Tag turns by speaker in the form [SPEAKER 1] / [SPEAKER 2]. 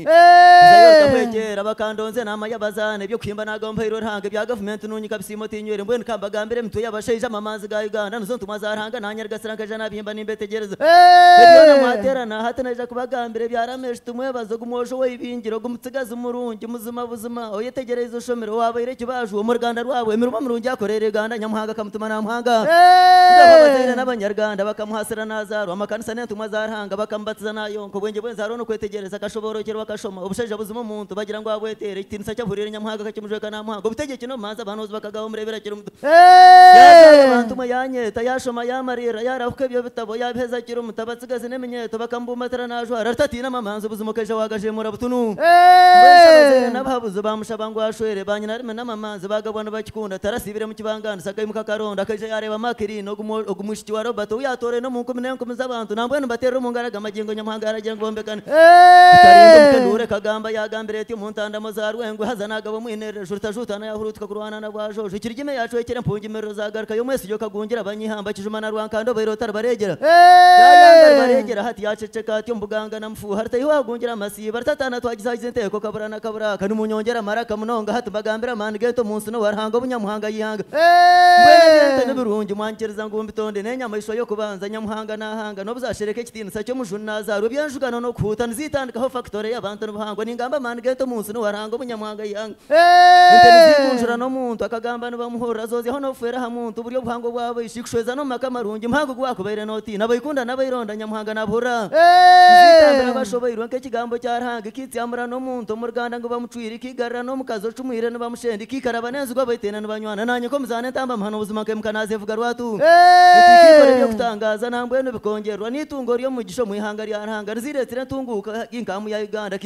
[SPEAKER 1] Nzayootamwegyera bakandonzya naama y'abazaana eby'okuhimba naaga omuhairwe Ruhanga ebya gavumenti nuunyika bisiimo tinywire mbwenu ka mbagambire emitwe y'abashaija amamanzi ga Uganda nizo ntumwa za Ruhanga naanyarigasira nkaija naabihimba nimbetegyereza ebyo byona mwateerana hati naija kubagambira ebya Ramesh Tumwebaze ogu mwojo owaibingire ogu mutsigazi murungi muzima buzima oyetegyereize oshomire owaabaire ekibaaju omu ruganda rwabo emirimo mirungi akoreire Uganda Nyamuhanga akamutuma naamuhanga Abazaire n'abanyaruganda bakamuhaasira naazaarwa amakanisa n'entumwa za Ruhanga Anga bakamubatiza naayonka obwengye bwensi hariho nokwetegyereza akashoboorokyerwa akashoma obushaija buzima omuntu bagira ngu abweteera ekitiinisa eki ahuriire Nyamuhanga akakimujweka naamuhanga obutegyeki n'obumanzi abahanuuzi bakagaha omureebi arakiri muto yaabyarwa abantu mwe yaanyeeta yaashoma yaamariirira yaarahuka ebyo bitabo yaabiheza akiri muto abatsigazi n'eminyeeto bakamubumbatira naajwara ari tataine amamanzi buzima okaija waagajeemura butunu mbwenu shi abazaire n'abahabuzi baamushaba ngu ashwere baanyina arime n'amamanzi baagabwa nibakikunda tarasiibire Kibangaanizi akaimuka akaronda, akaija yaareeba Makirini, ogu mwishiki wa Robert, ou yaatooraine omu nkumi n'enkumi z'abantu. Nambwenu mbateerera omu ngaro aga magingo Nyamuhanga yaaragira ngu bombekane. Tutarinda omuka enduura ekagamba, yaagambire eti, Omu ntandamo za Rwengwe haza naagaba omwineerero, ejurutajuutana yaahuruutuka kurwana na Bwajoojo. Ekirigime yaacwekire empungimiriro zaagarukayo, omwesijo kagungira abanyeihamba, kijuma na Rwankanda obaire otaribareegyera, yaayangaribara egira hati, yaaceceka ati, Omu buganga na. Fuuha Ruta iwe wagungira amasiibo ari tataana twagizaagiza enteeko kabura na kabura kandi munyongera amaraka munonga hati mbagambira amaani g'ente omu nsi n'owa Ruhanga obu Nyamuhanga yaihanga mbwenu eby'ente nibirungi mwanyikiriza ngu mbitonde n'enyamaishwa y'okubanza Nyamuhanga naahanga n'obuzashereka ekitiinisa ky'omujuni naazaarwa eby'enjugano n'okuhuuta niziitandikaho fakitore y'abantu nibuhangwa ningamba amaani g'ente omu nsi n'owa Ruhanga obu Nyamuhanga yaihanga Ente niziigunjura n'omuntu akagamba nibamuhurira zoozeho n'obufeere aha muntu buri obuhango obwabo ishi kushweza n'omu maka marungi muhango ogu waakubaire nootiina abaikunda n'abaironda Nyamuhanga naabuhurira Niziitambira bashoboirwe nk'ekigambo kya Ruhanga ekiitsyamura n'omuntu omu ruganda ngu bamucwire ikiigarura n'omukazi ocumwire nibamushenda ikiikaraba n'enzigu abaitaine nibanywana naanye nk'omuzaana entambamahano buzima nk'emuka naazeevuga rwatu Ente ikiikora eby'okutangaaza nambwenu bikongyererwa n'itungo ry'omugisha omu ihanga rya Ruhanga riziireetsire entunguuka nk'amu ya Uganda